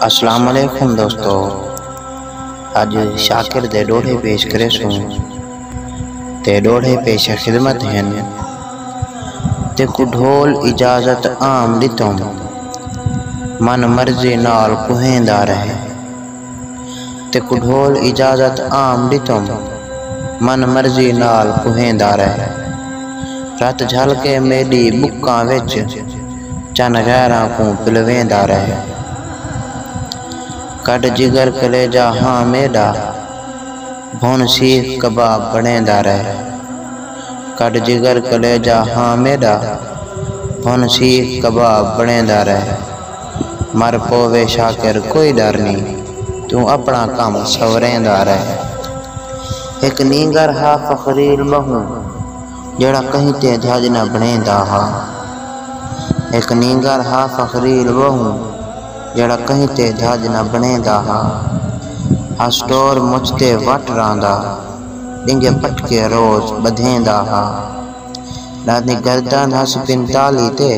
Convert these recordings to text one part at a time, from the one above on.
السلام علیکم دوستو اج شاکر دے ڈوہے پیش کرے سوں تے ڈوہے پیش خدمت ہن تے کو ڈھول اجازت عام ڈتوں من مرضی نال کوہیں دا رہے تے کڈھول اجازت عام ڈتم من مرضی نال کوہیندا رہ رت جھل کے میڈی بکاں وچ چن غیراں کوں پلویندا رہ کڈھ جگر کلیجہ ہاں میڈا بھن سیخ کباب بنڑیندا رہ کڈھ جگر کلیجہ ہاں میڈا بھن سیخ کباب بنڑیندا رہ۔ مر پووے شاکر کوئی ڈر نی توں اپنڑاں کم سنوریندا رہ۔ ہک نینگر ہا فخریل بہوں جیہڑا کہیں تے دھج نہ بنڑیندا ہا۔ ہک نینگر ہا فخریل بہوں جیہڑا کہیں تے دھج نہ بنڑیندا ہا۔ ہا سٹور مچھ تے وٹ رہندا ڈینگے پٹکے روز بدھیندا ہا۔ ݙاندیں گردن ہس پنتالی تے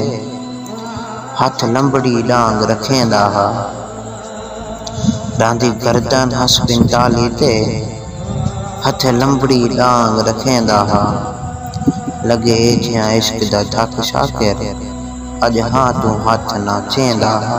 ہتھ لمبڑی ݙانگ رکھیندا ہا۔ ݙاندیں گردن ہس پنتالی تے ہتھ لمبڑی ݙانگ رکھیندا ہا۔ لڳے جیاں عشق دا تھک شاکر اڄ ہاں توں ہتھ ناں چیندا ہا۔